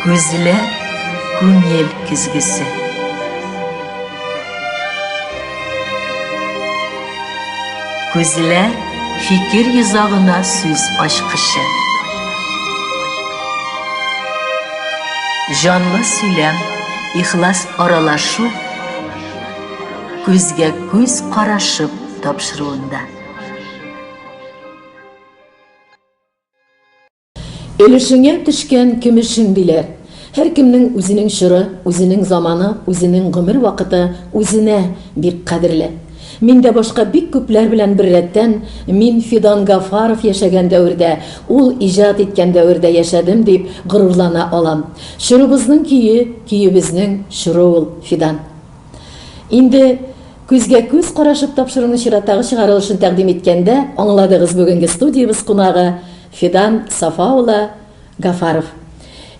Күзләр күңел көзгесе. Күзләр фикер йозагына сүз ачкычы. Җанлы сөйләм, ихлас аралашу күзгә күз карашып тапшыруында. Өлешеңә төшкән көмешең, диләр. Һәркемнең үзенең чоры, үзенең заманы, үзенең гомер вакыты үзенә бик кадерле. Мин дә башка бик күпләр белән беррәттән, мин Фидан Гафаров яшәгән дәвердә, ул иҗат иткән дәвердә яшәдем, дип горурлана алам. Чорыбызның көе, көебезнең чоры ул, Фидан. Инде күзгә күз карашып тапшыруның чираттагы чыгарылышын тәкъдим иткәндә аңладыгыз Бүгенге студиябез кунагы Фидан Сафа улы Гафаров.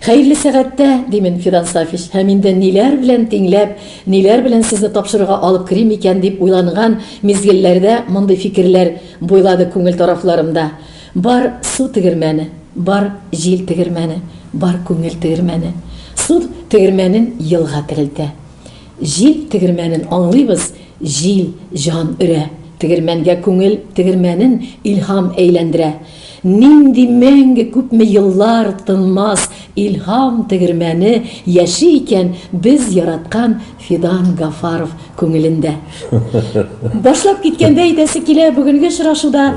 Хәерле сәгатьтә, димен, Фидан Сафич, һәм инде ниләр белән тиңләп, ниләр белән сезне тапшыруга алып керим икән дип уйланган мизгелләрдә мондый фикерләр буйлады күңел тарафларымда. Бар су тегермәне, бар җил тегермәне, бар күңел тегермәне. Су тегермәнен елга терелтә. Җил тегермәнен аңлыйбыз, Җил җан өрә. Тегермәнгә күңел тегермәнен Илһам әйләндерә. Нинди мәңге күпме еллар тынмас Илһам тегермәне яши икән Без яраткан Фидан Гафаров күңелендә. Башлап киткәндә әйтәсе килә, бүгенге очрашуда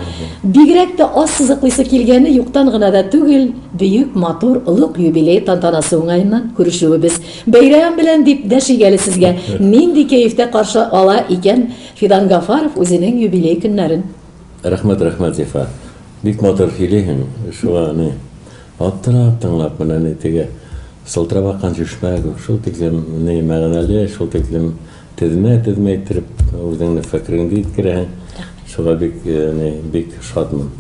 бигрәк тә аз сызыклыйсы килгәне юктан гына да түгел, бөек матур олуг юбилей тантанасы уңаеннан күрешүебез. Бәйрәм белән дип дәши гәле сезгә. Нинди кәефтә каршы ала икән Фидан Гафаров үзенең юбилей көннәрен? Рәхмәт, рәхмәт, Зифа. Бик матур сөйлиһең, шуңа ни, аптырап тыңлап, менә ни теге сылтырап аккан чишмә кебек, шул тиклем ни мәгънәле, шул тиклем Тезмә тезмә иттереп үзеңне фәкереңдә иткерәһең. Шуга бик яни бик шатмын.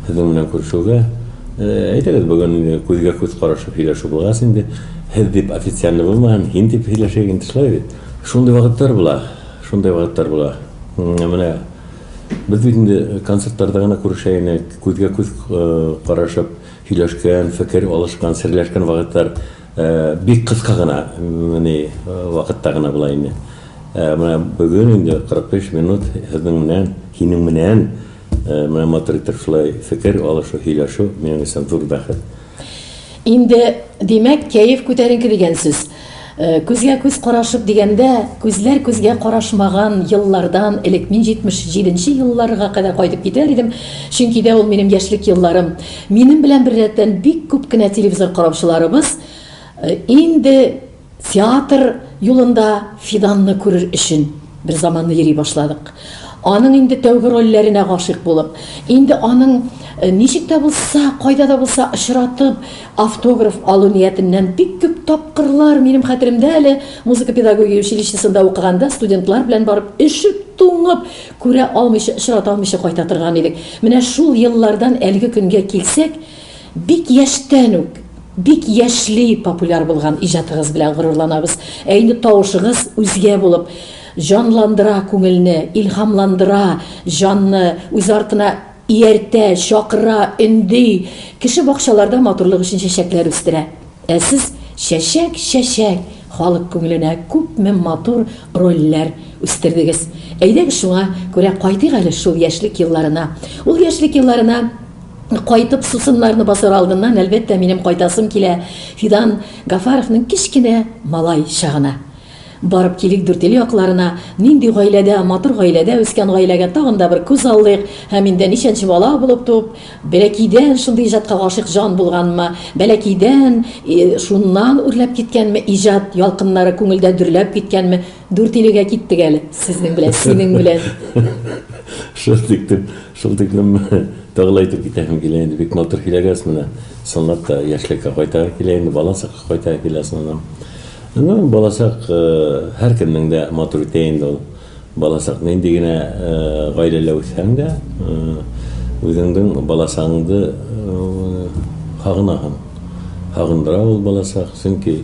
Сезнең белән күрешүгә. Әйдәгез бүген күзгә күз карашып сөйләшү булгач инде һез дип официально булмаһын, һин дип сөйләшәйек инде шулай бит. Шундый вакытлар була, шундый вакытлар була. Менә без бит инде концертларда гына күрешә идек, күзгә күз карашып сөйләшкән, фикер алышкан, серләшкән вакытлар Бик кыска гына ни вакытта гына була инде. Менә бүген инде 45 минут сезнең менән, синең менән менә матур итеп шулай фикер алышу, һөйләшү минем өчен зур бәхет. Инде, димәк, кәеф күтәренке дигән сүз. Күзгә күз карашып дигәндә, күзләр күзгә карашмаган еллардан элек, мин 77 нче елларга кадәр кайтып китәр идем, чөнки дә ул минем яшьлек елларым. Минем белән беррәттән бик күп кенә телевизор караучыларыбыз инде театр юлында Фиданны күрер өчен берзаманны йөри башладык. Аның инде тәүге рольләренә гашыйк булып, инде аның ничек тә булса, кайда да булса очратып, автограф алу ниятеннән бик күп тапкырлар, минем хәтеремдә әле, музыка-педагогия училищесында укыганда студентлар белән барып өшеп-туңып, Күрә алмыйча, очрата алмыйча кайта торган идек. Менә шул еллардан әлеге көнгә килсәк, бик яшьтән үк, бик яшьли популяр булган иҗатыгыз белән горурланабыз. Ә инде тавышыгыз үзгә булып, җанландыра күңелне, илһамландыра, җанны үз артына ияртә, чакыра, өнди, кеше бакчаларда матурлык өчен чәчәкләр үстерә. Ә сез чәчәк, чәчәк, халык күңеленә күпме матур рольләр үстердегез. Әйдәгез шуңа күрә кайтыйк әле шул яшьлек елларына. Ул яшьлек елларына кайтып сусыннарны басар алдыннан, әлбәттә, минем кайтасым килә Фидан Гафаровның кечкенә малай чагына. Барып килик Дүртөй якларына, нинди гаиләдә, матур гаиләдә үскән гаиләгә тагын да бер күз алдыйк, һәм инде ничәнче бала булып туып, бәләкәйдән шундый иҗатка гашыйк җан булганмы, бәләкәйдән шуннан үрләп киткәнме иҗат ялкыннары күңелдә дөрләп киткәнме, Дүртөйлегә киттек әле, сезнең белән, синең белән. Шундый итеп, Шул тиклем тагы ла әйтеп китәһем килә инде, бик матур һиләгәс менә, чынлап та яшьлеккә кайтаһы килә инде, бала чакка кайтаһы килә соңыннан. Ну, бала чак һәркемнең дә матур итә инде ул. Бала чак нинди генә гаиләлә үссәң дә, үзеңнең бала чагыңны сагынаһың. Сагындыра ул бала чак, чөнки.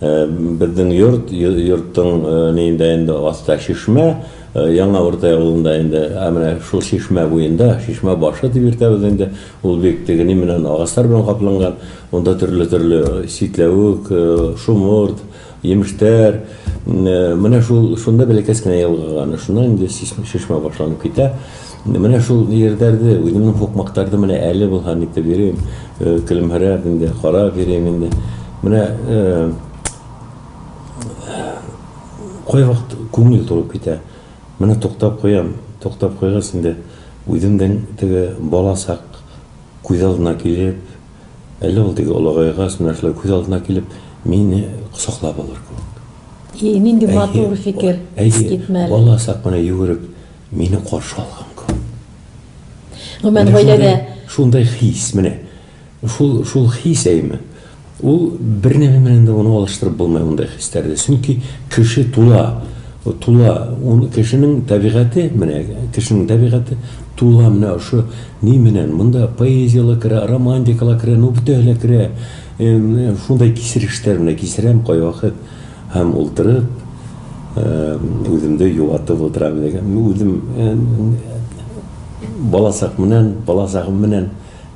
Безнең йорт, йорттың ниендә инде аста чишмә, Яңа Уртай авылында инде, ә менә шул чишмә буенда, чишмә башы дип йөртәбез инде, ул бик тегени менән агачлар белән капланган, монда төрле-төрле ситләвек, шомырт, йимештәр, менә шул, шунда бәләкәс кенә елга ганы, шуннан инде чишмә башланып китә. Менә шул җирләрдә үземнең һукмактарды менә әле булһа нитеп йөрим, көлемһерәп инде, карап йөрим инде. Менә кайвакыт күңел турып китә. Менә туктап куям, туктап куйгач инде, үземнең теге бала чак күз алдына килеп, әле ул теге олыгайгач, менә шулай күз алдына килеп, мине кочаклап алыр кебек. И, нинди матур фикер, искитмәле. Әйе, бала чак менә йөгереп Мине каршы алган көн. Гомумән, Менә гаиләдә... шундый, шундый хис, менә. Шул, шул хис, әйеме? Ул бер нәме белән дә аны алыштырып булмый мондый хисләрне. Чөнки кеше тула, тула, ун, кешенең табигате, менә, кешенең табигате тула менә ошо ни менән. Монда поэзия ла керә, романтика ла керә, ну, бөтәһе лә керә. Э, шундай кисерештә менә кисерәм кайвакыт. Һәм ултырып, үземде юатып ултырам иде. Мин үзем баласак менән, баласагым менән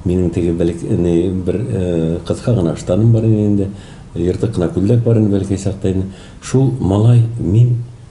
минем теге бәлки ни бер кыска гына штаным бар иде инде, ертык кына күлдәк бар иде бәлки чакта инде. Шул малай мин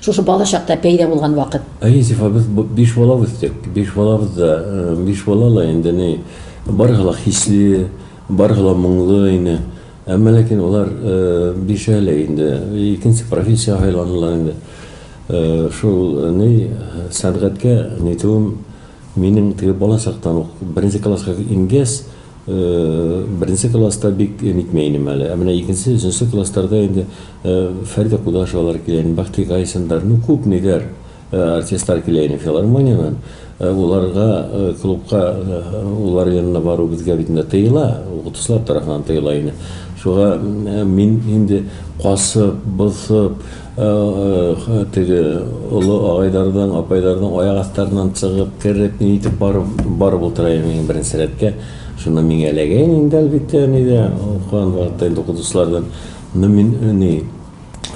Шушы бала чакта пәйда булган вакыт. Йосиф абыз биш бала үстек. Биш балабыз да, биш бала ла инде ни, барысы ла хисле, барысы ла моңлы ине. Әмма ләкин алар бишәү лә инде икенче профессия сайландылар инде. Шул ни, сәнгатькә нитүем минем теге бала чактан ук, беренче класска ингәч, Беренче класста бик нитмә инем әле. Ә менә икенче, өченче классларда инде Фәридә Кудашевалар килә иде, Бәхти Гайсиндар, ну күп ниләр, артистлар килә иде филармониядән. Уларга клубка улар янына бару безгә бит инде тыела, укытучылар тарафыннан тыела иде. Шуга мин инде касып, бозып, Эх, теге олы агайларның, апайларның аяк астарыннан чыгып, кереп, ни итеп барып, барып утыраем иң беренче рәткә. Шунда миңа эләгәйен инде, әлбиттә, әни дә, укыган вакытта инде укытучылардан. Ну, мин, ни,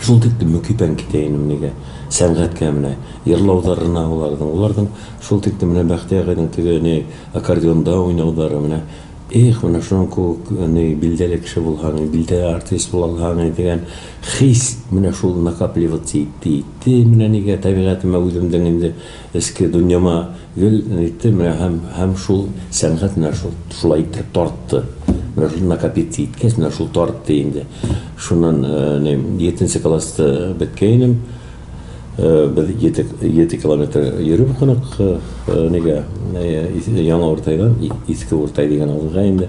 шул тиклем мөкиббән китә инем, нигә, сәнгатькә менә, йырлауларына аларның, аларның шул тиклем менә Бәхти агайның теге, ни, аккордеонда уйнаулары, менә, эх, менә шуның кебек, ни, билдәле кеше булһаң, билдәле артист була алһаң, дигән. Хис, менә шул накапливаться итте-итте, менә нигә табигатемә үземнең инде эчке дөньяма гел итте, менә һәм, һәм шул сәнгать менә шул, шулай иттереп тартты. Менә шул накопиться иткәч, менә шул тартты инде. Шуннан, ни, йетенче класста беткәйнем, без йете, йете километр йөреп укыдык, нигә, Яңа Уртайдан, Иске Уртай дигән авылга инде.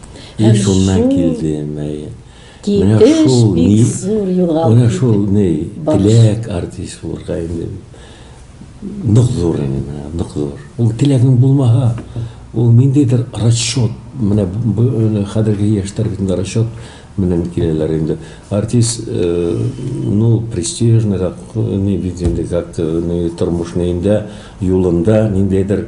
Һәм шуннан килде мәе. Менә шул ни, менә шул ни, теләк артист булырга инде нык зур инде, менә нык зур. Ул теләгең булмаһа, ул ниндидер расчет, менә бу хәзерге яшьтәр бит инде расчет белән киләләр инде. Артист, ну, престижныйрак, ни бит инде, как-то, ни, тормышны инде, юлында ниндидер,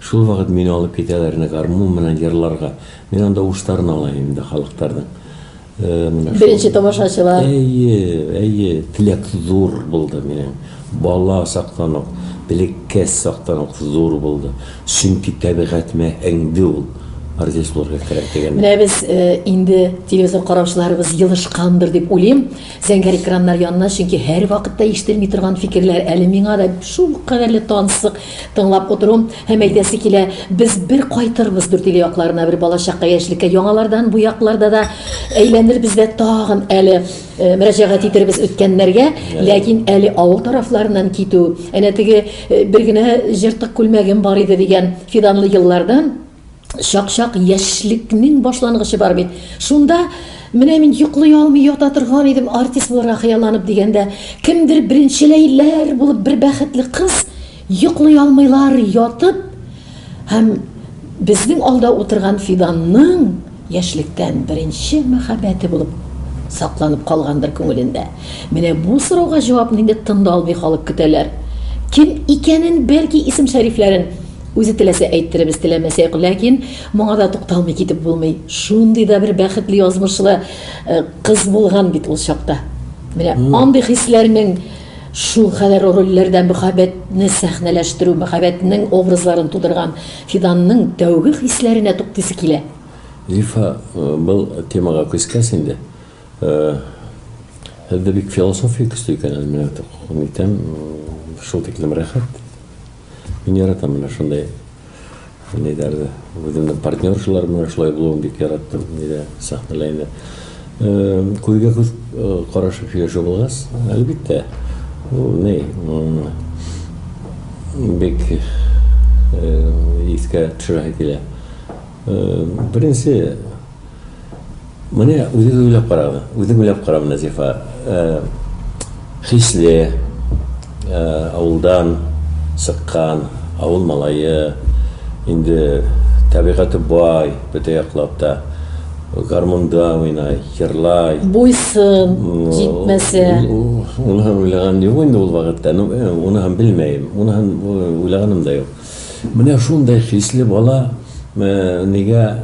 Шул вакыт мине алып китәләр инде гармун белән җырларга. Мин анда уштарын алам инде халыктарның. Менә шул. Беренче тамашачылар. Әйе, әйе, теләк зур булды минем. Бала чактан ук, бәләкәс чактан ук зур булды. Чөнки табигатемә һеңде ул, артист булырга кирәк дигән. Менә без инде телевизор караучыларыбыз елышкандыр дип уйлыйм. Зәңгәр экраннар янына, чөнки һәрвакытта ишетелми торган фикерләр әле миңа да шул кадәрле тансык, тыңлап утыру һәм әйтәсе килә, без бер кайтырбыз Дүртөйле якларына, бер балачакка, яшьлеккә, яңалардан бу якларда да әйләнербез дә тагын әле мөрәҗәгать итербез үткәннәргә, ләкин әле авыл тарафларыннан китү, әнә теге бер генә җыртык күлмәгем бар иде дигән фиданлы еллардан, Чак-чак яшьлекнең башлангычы бар бит. Шунда менә мин йоклый алмый ята торган идем, артист булырга хыялланып дигәндә, кемдер беренчеләйләр булып бер бәхетле кыз йоклый алмыйлар ятып һәм безнең алда утырган Фиданның Яшьлектән беренче мәхәббәте булып сакланып калгандыр күңелендә. Менә бу сорауга җавапны инде тында алмый халык көтәләр. Кем икәнен, бәлки, исем-шәрифләрен үзе теләсә әйттеребез, теләмәсә юк, ләкин моңа да тукталмый китеп булмый. Шундый да бер бәхетле язмышлы кыз булган бит ул чакта. Менә андый хисләрнең. Шулкадәр рольләрдә мәхәббәтне сәхнәләштерү, мәхәббәтнең образларын тудырган Фиданның тәүге хисләренә туктыйсы килә. Зифа, был темага күчкәч инде, һездә бик философия көчле икән әле, менә күреп итәм, шул тиклем рәхәт. Мин яратам менә шундый ниләрне. Үземнең партнер шулар менә шулай булуын бик яраттым. Нидә сәхнәлә инде. Күзгә күз карашып сөйләшү булгач, әлбәттә, ул ни, бик искә төшерә килә. Беренче Менә үзегез уйлап карагыз, үзем уйлап каравым, Назифа, хисле, авылдан чыккан, авыл малае, инде табигате бай, бөтә яклап та, гармунда уйнай, җырлай. Буй-сын җитмәсә. Уныһын уйлаган юк инде ул вакытта, уныһын белмәем, уныһын уйлаганым да юк. Менә шундый хисле бала нигә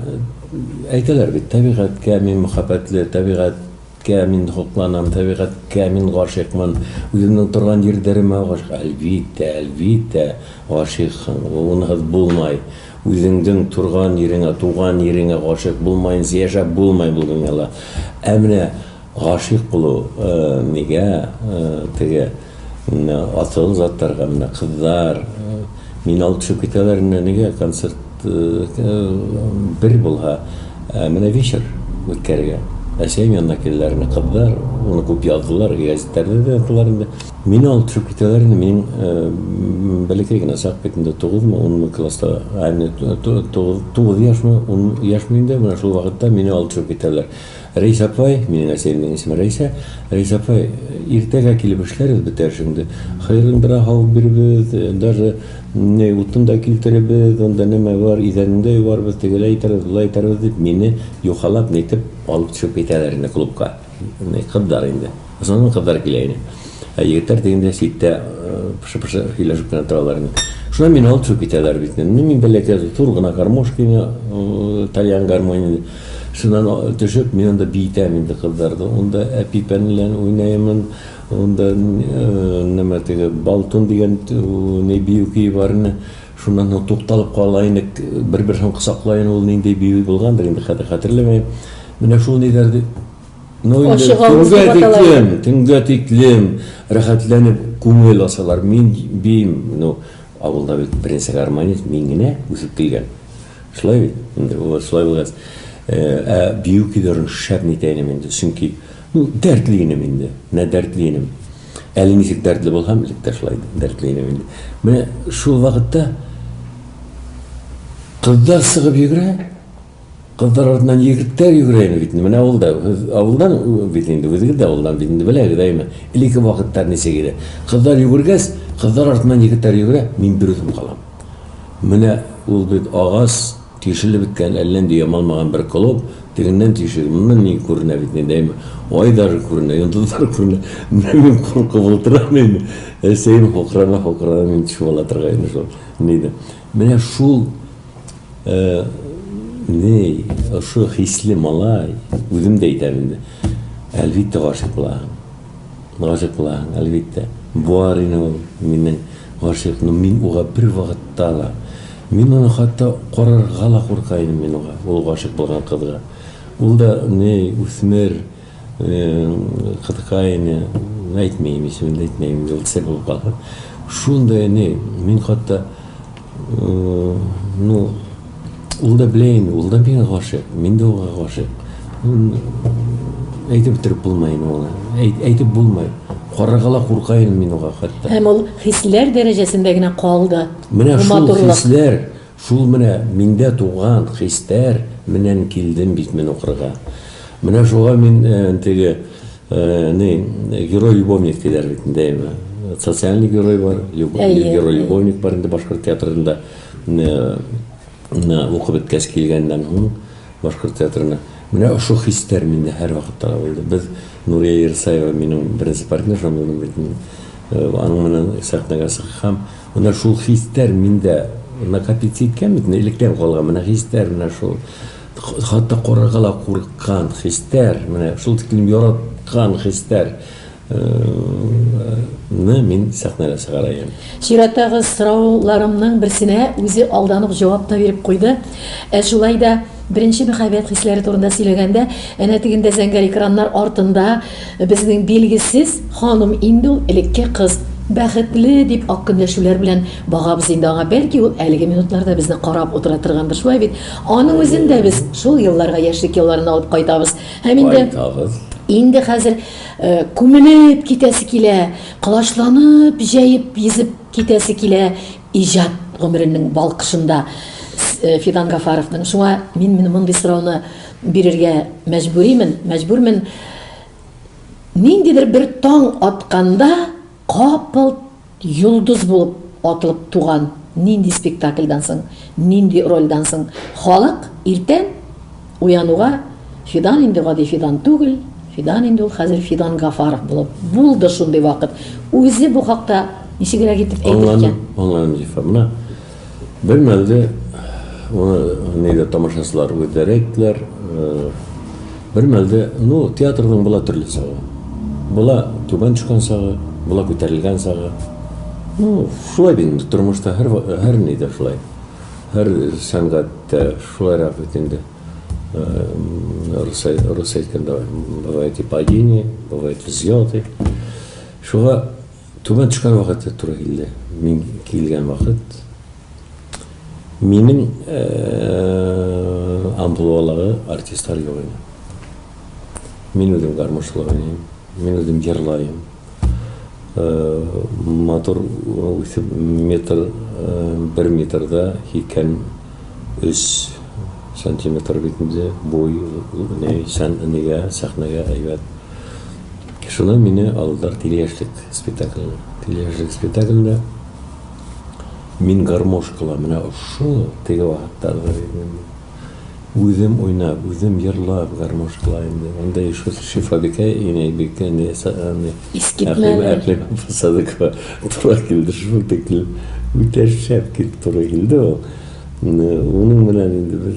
Әйтәләр бит, табигатькә мин мөхәббәтле, табигатькә мин хокланам, табигатькә мин гашыйкмын, үземнең торган җирләремә гашыйк. Әлбиттә, әлбиттә, гашыйксың, гунаһыз булмай. Үзеңнең торган йиреңә, туган йиреңә гашыйк булмаенча яшәп булмай бу дөньяда. Ә менә гашыйк булу, нигә теге, Менә атылган затларга менә кызлар мин алып төшеп китәләр менә нигә концерт бер булһа ә менә вечер үткәрергә әсәем янына киләләр менә кызлар уны күп яздылар гәзитләрдә дә яздылар инде мин алып төшеп китәләр инде мин бәләкәй генә чак бит инде тугызмы унмы класста ә менә тугыз яшьме ун яшьме инде менә шул вакытта мине алып төшеп китәләр Рәис апай, минең әсәемнең исеме Рәисә, Рәис апай, иртәгә килеп эшләрбез бит әле шундый. Хыерлындыра һавып бирербез, даже ни, утын да килтерербез, анда нәмә бар, идәнен дә юарбыз, тегеләй итәрбез, болай итәрбез, дип, мине юхалап, нитеп, алып төшеп китәләр инде клубка. Ни, кызлар инде. Соңыннан кызлар килә иде. Ә егетләр дигәндә читтә пышы-пышы сөйләшеп кенә торалар иде. Шуннан мине алып төшеп китәләр бит. Ну, мин бәләкәй, зур гына гармошкине, тальян гармонь иде. Шуннан төшеп, мин анда биетәм инде кызларда. Анда әпипән белән уйнаймын. Анда нәмә теге балтун дигән ни бию көе бар иде. Шуннан соң тукталып кала идек. Бер-берсен косаклаен, ул нинди бию булгандыр инде, хәзер хәтерләмәем. Менә шул ниләр ди. Ну инде төнгә тиклем, төнгә тиклем рәхәтләнеп күңел ачалар. Мин бим, ну авылда бит беренче гармонист мин генә үсеп килгән. Шулай бит. Инде ул шулай булгач, ә бию көйләрен шәп итә идем инде, чөнки ну дәртле идем инде, менә дәртле идем. Әле ничек дәртле булһам, элек тә шулай дәртле идем инде. Менә шул вакытта кызлар чыгып йөгерә, Кызлар артыннан егетләр йөгерә инде бит инде. Менә ул да авылдан бит инде, үзегез дә авылдан бит инде, беләгез, әйеме? Элекке вакытлар ничек иде? Кызлар йөгергәч, кызлар артыннан егетләр йөгерә, мин берүзем калам. Менә ул бит агач, тишелеп беткән, әллә нинди ямалмаган бер клуб, тегеннән тишек, моннан ни күренә бит инде, әйеме? Ай даже күренә, йолдызлар күренә. Менә мин куркып утырам инде, әсәем хукрана-хукрана мине чуалатырга инде шул, диде. Менә шул. Э, ней, ошо хисле малай, үзем дә әйтәм инде. Әлбиттә гашыйк булаһың. Гашыйк булаһың, әлбиттә. Бар ине ул минем гашыйк, но мин уга бер вакытта ла. Мин аны хатта карарга ла курка идем мин уга, ул гашыйк булган кызга. Ул да ней, үсмер. Кытка әйне, әйтмим, исемен дә әйтмим, инде ул сер булып калсын. Шундый әни, мин хатта, ну, ул да белә инде, ул да миңа гашыйк, мин дә уңа гашыйк. Әйтеп бетереп булмай инде ул. Әйтеп булмай. Карарга ла курка идем мин уңа хатта. Һәм ул хисләр дәрәҗәсендә генә калды. Менә шул хисләр. Шул менә миндә туган хистәр менән килдем бит мин укырга. Менә шуга мин теге, ни, герой-любовник диләр бит инде, әйеме? Социальный герой бар, любовник, герой-любовник бар инде башкорт театрында. Менә укып беткәч килгәннән һуң башкорт театрына. Менә ошо хистәр миндә һәрвакытта да булды. Без, Нурия Ерсаева минем беренче партнершам булды бит инде. Аның менән сәхнәгә чыккам. Менә шул хистәр миндә накопиться иткән бит инде, электән калган менә хистәр, менә шул хатта карарга да курыккан хистәр, менә шул тиклем яраткан хистәр ны мин сәхнәгә чыгарайым. Чиратагыз, сорауларымның берсенә үзе алдан ук җавап та биреп куйды. Ә шулай да, беренче мәхәббәт хисләре турында сөйләгәндә, әнә тегендә зәңгәр экраннар артында, Безнең билгесез ханым инде ул элекке кыз. Бәхетле, дип ак көнләшүләр белән багабыз инде аңа. Бәлки ул әлеге минутларда безне карап утыра торгандыр, шулай бит? Аның үзен дә без шул елларга, яшьлек елларына алып кайтабыз. Һәм инде, Кайтабыз. инде хәзер күмелеп китәсе килә, колачланып, җәеп, йөзеп китәсе килә иҗат гомеренең балкышында Фидан Гафаровның. Шуңа мин менә мондый сорауны Бирергә мәҗбүримен, мәҗбүрмен. Ниндидер бер таң атканда капылт йолдыз булып атылып туган нинди спектакльдан соң, нинди рольдән соң халык иртән уянуга Фидан инде гади Фидан түгел, Фидан инде ул хәзер Фидан Гафаров булып булды шундый вакыт. Үзе бу хакта ничегрәк итеп әйтер икән? Аңладым, аңладым, Зифа. Менә Бер мәлне, моны нидә тамашачылар үзләре әйттеләр, бер мәлне, ну, театрның була төрле чагы. Була түбән төшкән чагы, була күтәрелгән чагы. Ну, шулай бит инде тормышта һәр һәр нидә шулай. Һәр сәнгатьтә шулайрак бит инде. Русай, русай әйткәндә, бывает и падение, бывает взлеты. Шуңа Түбән төшкән вакыты туры килде. Мин килгән вакыт минем амплуадагы артистлар юк иде. Мин үзем гармунчылык уйныйм, мин үзем җырлаем. Матур үсеп метр, бер метрда һикем өч сантиметр бит инде буй, нәй, сән, нигә, сәхнәгә әйбәт. Шуннан мине алдылар Тилеяшьлек спектакленә. Тилеяшьлек спектаклендә мин гармошкала менә ошо теге вакытта үзем уйнап, үзем җырлап гармошкала инде. Анда еще Шифабикә инәй бик әни сагынды. Искитмәле. Әкълимова Садыкова туры килде шул тиклем. Үтә шәп килеп туры килде ул. Инде уның белән инде без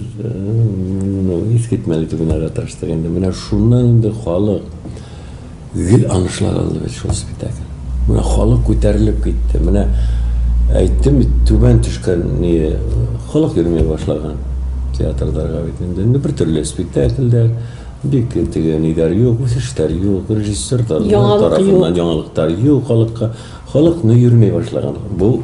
ну искитмәле түгел яраташтык инде. Менә шуннан инде халык гел анышлар алды бит шул спектакль. Менә халык күтәрелеп китте. Менә әйттем бит, түбән төшкән ни халык йөрми башлаган театрдырга бит инде. Инде бер төрле спектакльдә бик теге нидәр юк, үсештәр юк, режиссер тарафыннан яңалыктар юк халыкка. Халык ну йөрми башлаган. Бу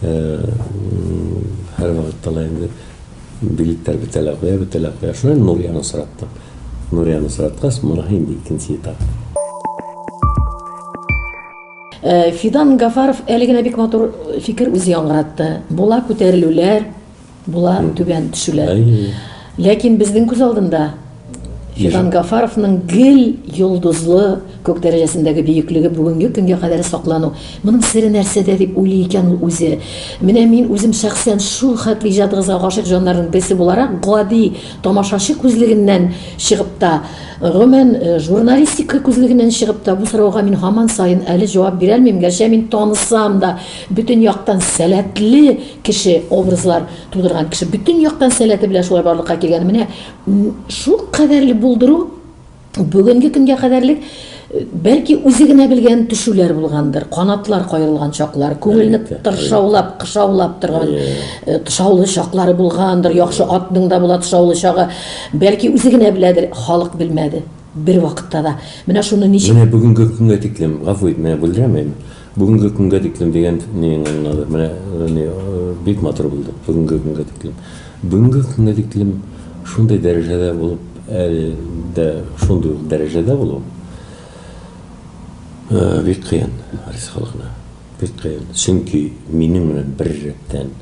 Һәр вакытта ла инде билетлар бетә лә куя, бетә лә куя. Шулай Нурияны сораттык. Нурияны сораткач, моныһы инде икенче этап. Фидан Гафаров әле генә бик матур фикер үзе яңгыратты. Була күтәрелүләр, Була түбән төшүләр. Ләкин безнең күз алдында Фидан Гафаровның гел йолдызлы күк дәрәҗәсендәге бөеклеге бүгенге көнгә кадәр саклану. Моның сере нәрсәдә дип уйлый икән ул үзе? Менә мин үзем шәхсән шул хәтле иҗатыгызга гашыйк җаннарның берсе буларак, гади тамашачы күзлегеннән чыгып та, гомумән, э, журналистика күзлегеннән чыгып та, бу сорауга мин һаман саен әле җавап бирә алмыйм, гәрчә мин танысам да, бөтен яктан сәләтле Кеше, образлар тудырган кеше бөтен яктан сәләте белән шулай барлыкка килгән. Менә шул кадәрле булдыру бүгенге көнгә кадәрлек бәлки үзе генә белгән төшүләр булгандыр, канатлар каерылган чаклар, күңелне тыршаулап, кышаулап торган э, тышаулы чаклары булгандыр, яхшы атның да була тышаулы чагы, бәлки үзе генә беләдер, халык белмәде бер вакытта да. Менә шуны ничек Менә бүгенге көнгә тиклем, гафу ит, менә бүлдерәм мин. Бүгенге көнгә тиклем дигән не аңлады. Менә не бик матур булды. Бүгенге көнгә тиклем. Бүгенге көнгә тиклем шундый дәрәҗәдә булып, әле дә шундый ук дәрәҗәдә булу бик кыен рус халкына. Бик кыен. Чөнки минем белән бер рәттән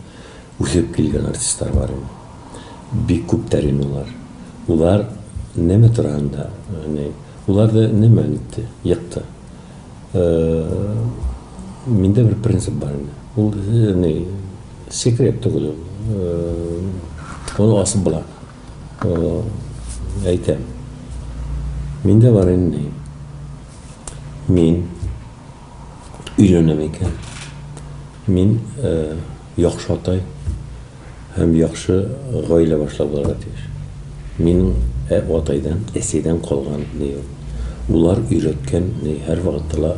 үсеп килгән артистлар бар инде. Бик күп тә инде алар. Улар нәмә турында, не уларда нәмә үтте, екты. Миндә бер принцип бар инде. Ул не секрет түгел. Ул асып була. Әйтәм. Миндә бар инде. Мин өйләнәм икән. Мин Яхшы атай һәм яхшы гаилә башлап булырга тиеш. Минем ә атайдан, әсидән калган ни ул. Улар өйрәткән ни һәр вакытта ла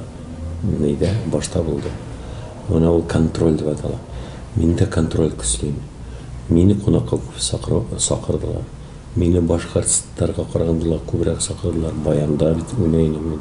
ни дә башта булды. Менә ул контроль дип атала. Мин дә контроль көслим. Мине кунакка күп сакыру сакырдылар. Мине башка артистларга караганда ла күбрәк сакырдылар. Баянда бит уйный идем мин.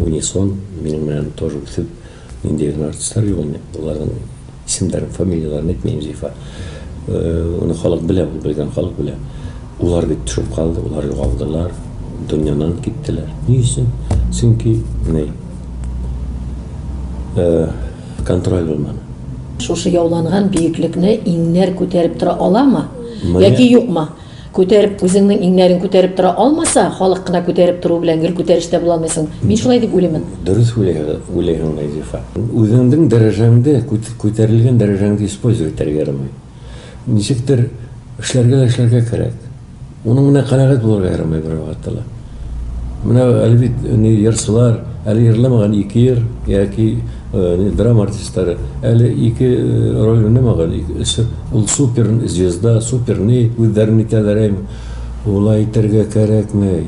Унисон минем белән тоже үсеп нинди генә артистлар юк инде, аларның исемнәрен, фамилияләрен әйтмим, Зифа. Моны халык белә, ул белгән халык белә. Улар бит төшеп калды, улар югалдылар, дөньянан киттеләр. Ни өчен? Чөнки ни? Контроль булмады. Шушы яуланган биеклекне иңнәр күтәреп тора аламы яки юкмы? Күтәреп, үзеңнең иңнәрең күтәреп тора алмаса, халык кына күтәреп тору белән гел күтәрештә була алмыйсың. Мин шулай дип уйлыймын. Дөрес уйлыйһың, Назифа. Үзеңнең дәрәҗәңдә, күтәрелгән дәрәҗәңдә использовать итәргә ярамый. Ничектер эшләргә дә эшләргә кирәк. Моның белән канәгать булырга ярамый бервакытта да. Менә әле бит ни йырчылар, әле йырламаган ике йыр яки драма артистлары, әле ике роль уйнамаган, өче ул супер звезда, супер ни, үзләрен әйтәләр әй, улай итәргә кәрәкме,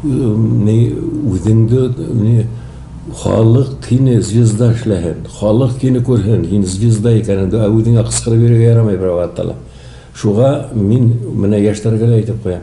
ни үзеңдө ни халык кине звезда эшләһен, халык кине күрһен, һин звезда икәнеңдө, ә үзеңә кычкырып йөрергә ярамый бервакытта да. Шуга мин менә яшьләргә дә әйтеп куям.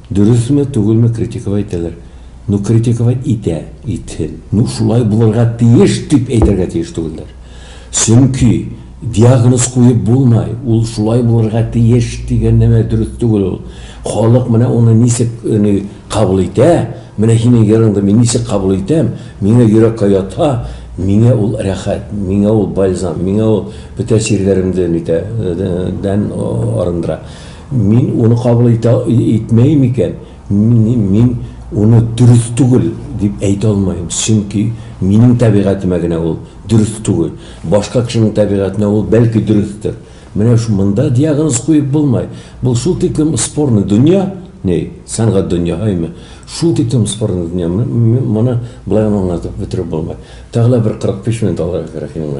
Дөресме түгелме критиковать итәләр, ну критиковать итә, итһен, ну шулай булырга тиеш дип әйтергә тиеш түгелләр. Чөнки диагноз куеп булмай, ул шулай булырга тиеш дигән нәмә дөрес түгел ул. Халык менә уны ничек ни кабул итә, менә һинең йырыңды мин ничек кабул итәм, миңа йөрәккә ята, миңа ул рәхәт, миңа ул бальзам, миңа ул бөтә чирләремден итә, дән арындыра. Мин уны кабул итә, итмәем икән, мин, мин уны дөрес түгел дип әйтә алмаем, чөнки минем табигатемә генә ул дөрес түгел, башка кешенең табигатенә ул, бәлки, дөрестер. Менә шу, монда диагноз куеп булмай. Бу шул тиклем спорный дөнья, ни, сәнгать дөньяһыймы, шул тиклем спорный дөнья, м, м, моны болай гына аңлатып бетереп булмай. Тагы да бер 45 минут алырга кирәк инде.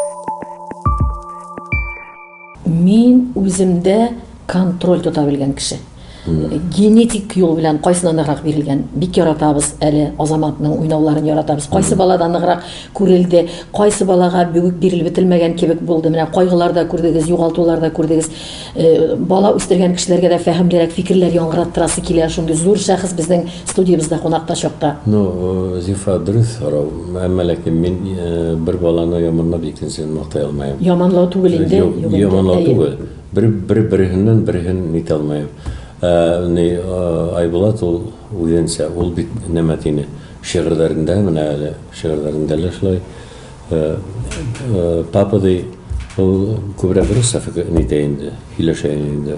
Мин үземдә контроль тота белгән кеше. Генетик юл белән кайсына ныграк бирелгән. Бик яратабыз әле Азаматның уйнауларын яратабыз. Кайсы балада ныграк күрелде, кайсы балага бүген бирелеп бетелмәгән кебек булды. Менә кайгылар да күрдегез, югалтулар да күрдегез. Э, бала үстергән кешеләргә дә фәһемлерәк фикерләр яңгыраттырасы килә. Шундый зур шәхес безнең Студиябездә кунакта чакта. Ну, Зифа, дөрес сорау. Әмма ләкин мин бер баланы яманлап икенчесен мактай алмаем. Яманлау түгел инде. Юк, яманлау түгел. Бер бер берсеннән берсен нитә алмаем. Ә ни Айбулат ул үзенчә, ул бит нәмә тине. Шигырьләрендә менә әле, шигырьләрендә лә шулай. Папа ди, ул күбрәк русча нитә инде, сөйләшә инде.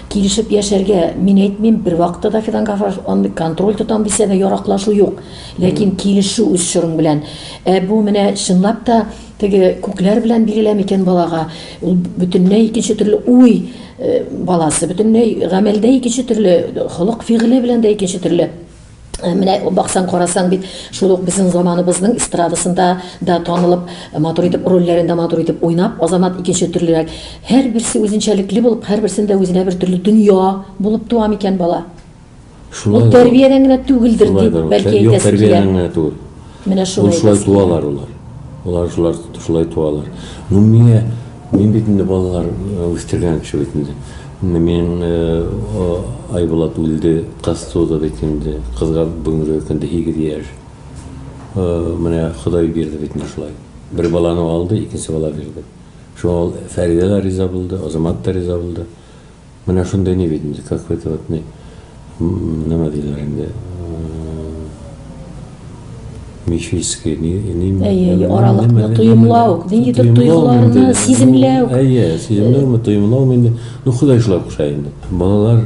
Килешеп яшәргә, мин әйтмим, бервакытта да Фидан Гафаров андый контроль тотам дисә дә яраклашу юк. Ләкин килешү үз чорың белән. Ә бу менә чынлап та теге күкләр белән бирелә микән балага? Ул бөтенләй икенче төрле уй э, баласы, бөтенләй гамәлдә икенче төрле, холык-фигыле белән дә икенче төрле. Менә баксаң, карасаң бит, шул ук безнең заманыбызның эстрадасында да танылып, матур итеп рольләрен дә матур итеп уйнап, Азамат икенче төрлерәк. Һәрберсе үзенчәлекле булып, һәрберсендә үзенә бер төрле дөнья булып туа микән бала? Шулай. Ул тәрбиядән генә түгелдер, дип бәлки әйтәсе килә. Юк, тәрбиядән генә түгел. Менә шулай да. Шулай туалар улар. Улар шулар шулай туалар. Ну миңа мин бит инде балалар үстергән кеше бит инде. Менә мин Айбулат үлде, кыз туды бит инде. Кызга бүгенге көндә һигез яшь. Менә Ходай бирде бит инде шулай. Бер баланы алды, икенче бала бирде. Шуңа ул Фәридә дә риза булды, Азамат та риза булды. Менә шундый ни бит инде, какой-то вот ни, нема диләр инде, мифический ни, ними. Әйе, әйе, аралыкны тоемлау, ниндидер тойгыларны сиземләү. Әйе, сиземләүме, тоемлаумы инде, ну, Ходай шулай куша инде. Балалар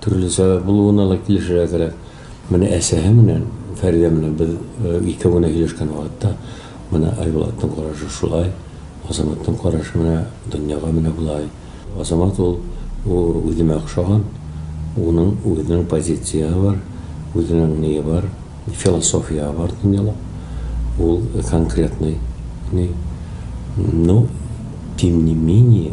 Төрле сәбәп булуына да килешергә кирәк. Менә әсәһе менән, Фәридә менән без икәү генә һөйләшкән вакытта, менә Айбулатның карашы шулай, Азаматның карашы менә дөньяга менә болай. Азамат ул үземә охшаган, уның үзенең позицияһе бар, үзенең ние бар, философияһе бар дөньяда. Ул конкретный, ни. Но тем не менее.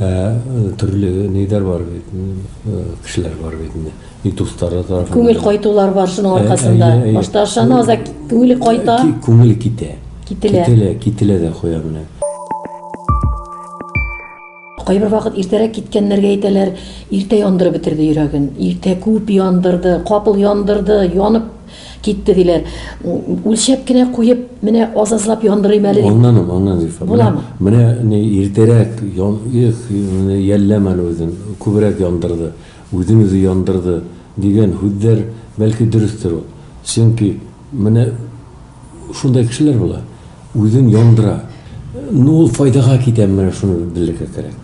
Ә төрле ниләр бар бит, кешеләр бар бит инде. И дуслары да. Күңел кайтулар бар шуның аркасында. Башта ашаны аза күңеле кайта. Күңеле китә. Кителә. Кителә, кителә дә куя менә. Кайбер вакыт иртәрәк киткәннәргә әйтәләр, иртә яндырып бетерде йөрәген, иртә күп яндырды, капыл яндырды, янып Китте, диләр. Үлчәп кенә куеп, менә аз-азлап яндырыйм әле. Анланым, анланым, Зифа. Буламы? Менә ни иртәрәк ян, их, йәлләм әле үзен, күбрәк яндырды, үзен үзе яндырды, дигән һүзләр, бәлки, дөрестер ул. Чөнки менә шундай кешеләр була. Үзен яндыра. Ну ул файдага китәме менә шуны белергә кирәк.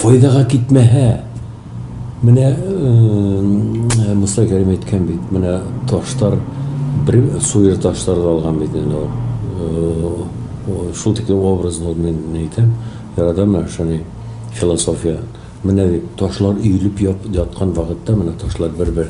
Файдага китмәһә, менә Муса Кәрим әйткән бит, менә таштар бер суер таштарды алган бит инде ул. Шул тиклем образ булды мин әйтәм, яратам менә шуны философия. Менә бит ташлар өелеп яткан вакытта менә ташлар бер-бер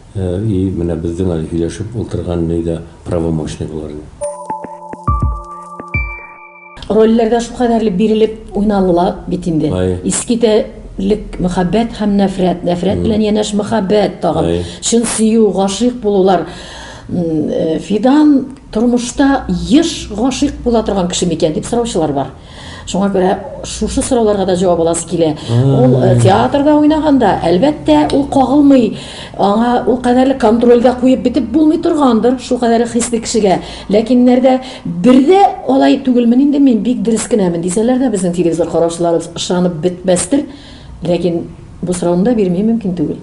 И менә бездең әле һөйләшеп ултырган ни дә правомочный булыр иде. Рольләргә шул кадәрле бирелеп уйналыла бит инде. Искитә лек мәхәббәт һәм нәфрәт, нәфрәт белән янәш мәхәббәт тагын, чын сөю, гашыйк булулар. Фидан тормышта еш гашыйк була торган кеше микән дип сораучылар бар. Шуңа күрә шушы сорауларга да җавап аласы килә. Ул э, театрда уйнаганда, әлбәттә, ул кагылмый, аңа ул кадәрле контрольгә куеп бетеп булмый торгандыр, шул кадәрле хисле кешегә. Ләкиннәрдә бердә алай түгелмен инде мин бик дөрес кенәмен дисәләр дә безнең телевизор караучыларыбыз ышанып бетмәстер. Ләкин бу сорауны да бирми мөмкин түгел.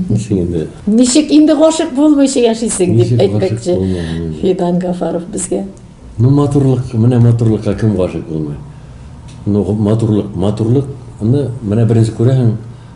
Ничек инде? Ничек инде гашык булмыйча яшисең дип әйтмәкче. Фидан Гафаров безгә. Ну матурлык, менә матурлыкка кем гашык булмый? Ну матурлык, матурлык, аны менә беренче күрәһең,